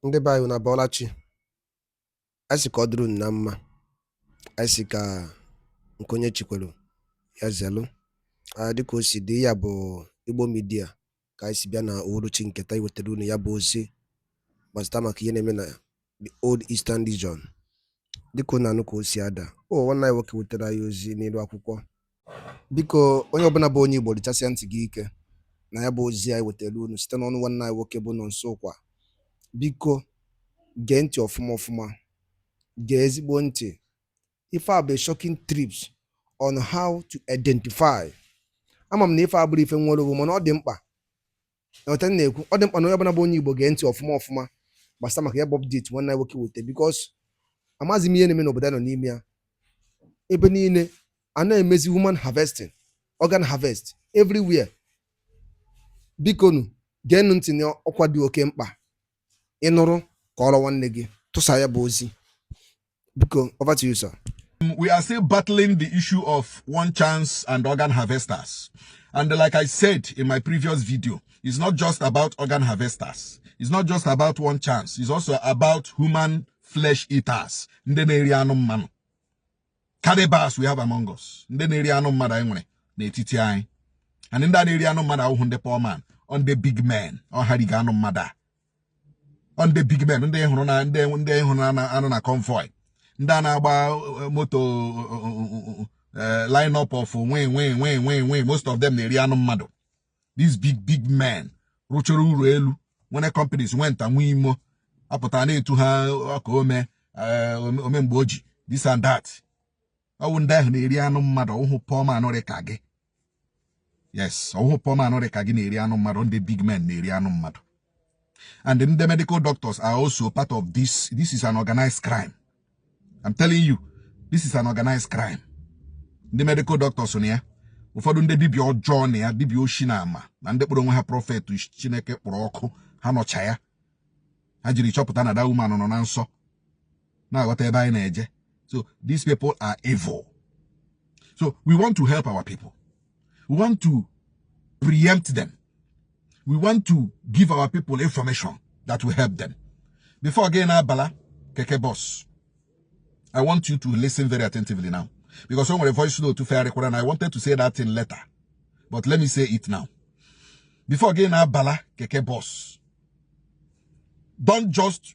ndị be anyị unu abọọla chi anyị sị ka ọ dịrị unu na mma anyị sị ka nke onye chikwelu ya zelu dịka o si dị ya bụ Igbo Media ka anyị si bịa na uhuruchi nke taa iwetara unu ya bụ ozi gbasịta maka ihe na-eme na the old eastern region dịka unu anụ ka o si ada ọ nwanne anyị nwoke wetara anyị ozi n'elu akwụkwọ biko onye ọbụla bụ onye Igbo dịchasịa ntị gị ike na ya bụ ozi anyị wetara unu site n'ọnụ nwanne anyị nwoke bụ Nonso Nkwa biko gee ntị ọfụma ọfụma gee ezigbo ntị ife a bụ shocking tips on how to identify ama m na ife a bụrụ ife nwere onwe mana ọ dị mkpa etu a na-ekwu ọ dị mkpa na onye ọbụla bụ onye Igbo gee ntị ọfụma ọfụma gbasa maka ya bụ update nwanne anyị nwoke wete because amaghịzi m ihe na-eme n'obodo a nọ n'ime ya ebe niile a na-emezi human harvesting organ harvest everywhere bikonu geenụ ntị na ọkwa dị oke mkpa ị nụrụ kọọrọ nwanne gị tụsa ya bụ ozi biko over to you sir um, we are still battling the issue of one chance and organ harvesters and like i said in my previous video it's not just about organ harvesters it's not just about one chance it's also about human flesh eaters ndị na-eri anụ mmadụ cannibals we have among us ndị na-eri anụ mmadụ anyị nwere n'etiti anyị and ndị a na-eri anụ mmadụ awụhụ ndị poor man ọ ndị big men ọ ha riga anụ mmadụ a ndị big men ndị hụrụ na ndị ndị hụrụ na-anọ na convoy ndị a na-agba eh, moto eh, eh, line up of wi wi wi wi wi most of them na-eri anụ mmadụ these big big men rụchara ụlọ elu nwere companies nwe nta nwe imo a pụta a na-etu ha ọkaa omee ome mgbe o ji this and that ọ wụ ndị ahụ na-eri anụ mmadụ ọ wụhụ poor man rị ka gị yes ọ wụhụ poor man rị ka gị na-eri anụ mmadụ ọ ndị big men na-eri anụ mmadụ and ndị medical doctors are also part of this this is an organized crime I'm telling you this is an organized crime ndị medical doctors nọ ya ụfọdụ ndị dibịa ọjọọ nọ ya dibịa oshi na ama na ndị kpọrọ onwe ha prophet Chineke kpọrọ ọkụ ha nọcha ya ha jiri chọpụta na that woman nọ na nsọ na-aghọta ebe anyị na-eje so these people are evil so we want to help our people we want to preempt them we want to give our people information that will help them before gị na-abala keke bọs I want you to listen very attentively now because o nwere voice note fegharịkwara na I wanted to say that thing later but let me say it now before gị na-abala keke bọs don't just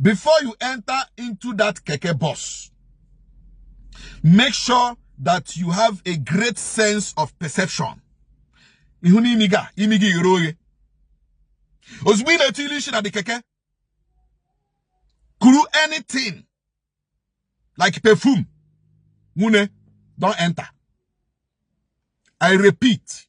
before you enter into that keke bus make sure that you have a great sense of perception ị hụ na imi gị imi gị ghere oghe ozugbo ị na-etili ishi na the keke kuru anything like perfume nwunne don't enter i repeat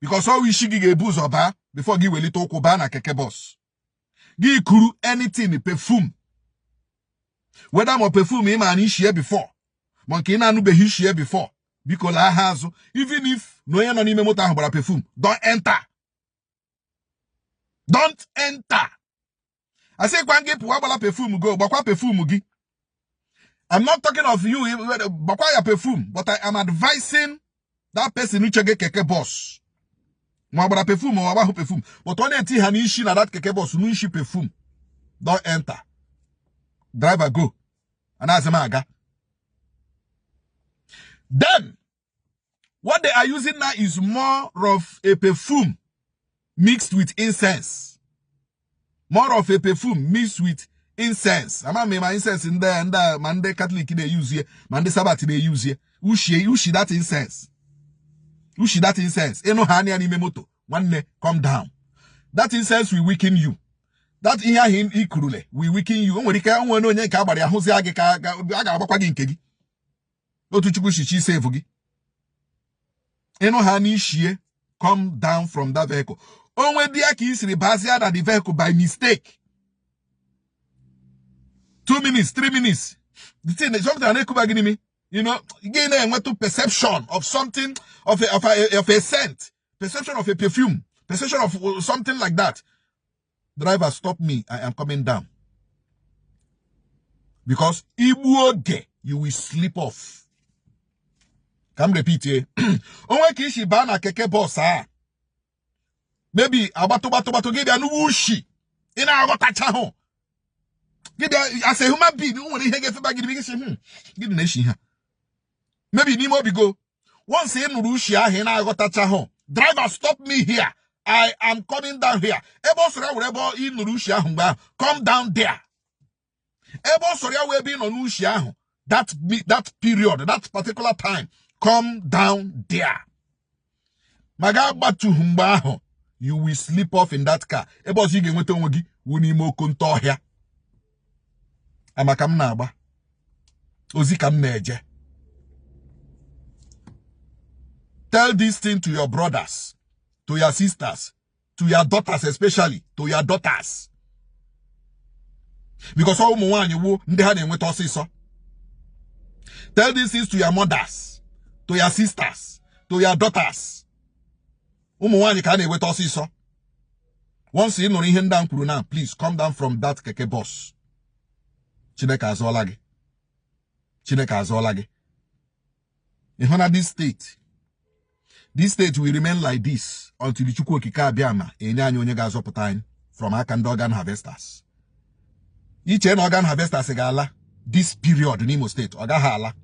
because ọ wụ ishi gị ga-ebu ụzọ baa before gị welite ụkwụ baa na keke bus gị kuru anything perfume whether ma perfume ị na-anụ ishie before ma nke ị na-anụbeghị ishie before biko lahaa azụ even if na onye nọ n'ime moto ahụ gbara perfume don't enter don't enter asịkwa m gị pụwa agbala perfume go gbakwa perfume gị I'm not talking of you gbakwa ya perfume but I am advising that person who chege keke bus ma ọ gbara perfume ma ọ gbahụ perfume but ọ na-etihanị ishi na that keke bus nụ ishi perfume don't enter driver go anaghịzi m aga then What they are using now is more of a perfume mixed with incense. More of a perfume mixed with incense. Ama m ma incense ndị ndị ma ndị Catholic na-eyuzie ma ndị Sabbath na-eyuzie. Ushi ushi that incense. Ushi that incense. Ị nụhanị ya n'ime moto. Nwanne come down. That incense will weaken you. That ihe ahụ i kurule will weaken you. O nwere ike o nwee onye nke a gbara a hụzie gị ka a ga-agbakwa gị nke gị. otu Chukwu shi chọ isevu gị ị nụhanị ishie come down from that vehicle o nwedị ya ka i siri bazia na the vehicle by mistake two minutes three minutes the thing is something na-ekuba gị n'imi you know gị na-enwetụ perception of something of a, of a, of a scent perception of a perfume perception of uh, something like that driver stop me i am coming down because i gbuo oge you will sleep off ka m repeat ye o nwee ka i shi baa na keke bus a maybe agbatụ gbatụ gbatụ gị bịa nụ ushi ị na-aghọtachahụ gị bịa as a human being nwere ihe ga-efeba gị gị sị hmm, gịnị na-eshi here maybe n'ime obi go once ị nụrụ ushi ahụ ị na-aghọtachahụ driver stop me here I am coming down here ebe ọ sọrọ ya wụrụ ebe ị nụrụ ushi ahụ mgbe ahụ come down there ebe ọ sọrọ ya wụrụ ebe ị nụrụ ushi ahụ that that period that particular time come down there ma gị agbatuhụ mgbe ahụ you will sleep off in that car ebe ọzọ ị ga-enweta onwe gị wụ n'ime oke nta ọhịa ama ka m na-agba ozi ka m na-eje tell this thing to your brothers to your sisters to your daughters especially to your daughters because ọ wụ ụmụ nwaanyị wụ ndị ha na-enweta ọsịsọ tell this thing to your mothers to your sisters to your daughters ụmụ nwaanyị ka a na-eweta ọsịsọ once ị nụrụ ihe ndị a m kwuru na please come down from that keke bus chineke azọọla gị chineke azọọla gị ị hụna this state this state will remain like this until chukwu okike abịama enye anyị onye ga-azọpụta anyị from aka ndị organ harvesters i che na organ harvesters ga-ala this period n'imo steeti ọ gaghị ala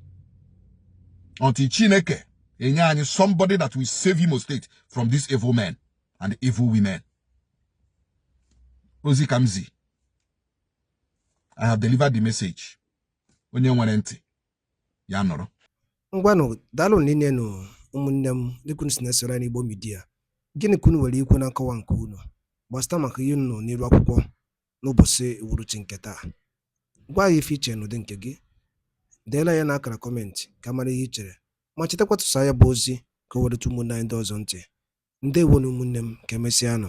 until chineke enye anyị somebody that will save Imo State from these evil men and evil women ozi ka m zi I have delivered the message onye nwere ntị ya nụrụ ngwanụ daalụ rinne nụ ụmụnne m dịka unu si na-esoro anyị Igbo Media gịnị ka unu nwere ikwu na nkọwa nke unu gbasata maka ihe unu n'iru akwụkwọ n'ụbọchị uhuruchi nke taa. Gwa anyị ife i che n'ụdị nke gị. Deela ya n'akara kọmentị ka a mara ihe i chere ma chetakwa tụsa ya bụ ozi ka o wee rute ụmụnne anyị ndị ọzọ ntị. Ndewonu ụmụnne m ka emesịanụ.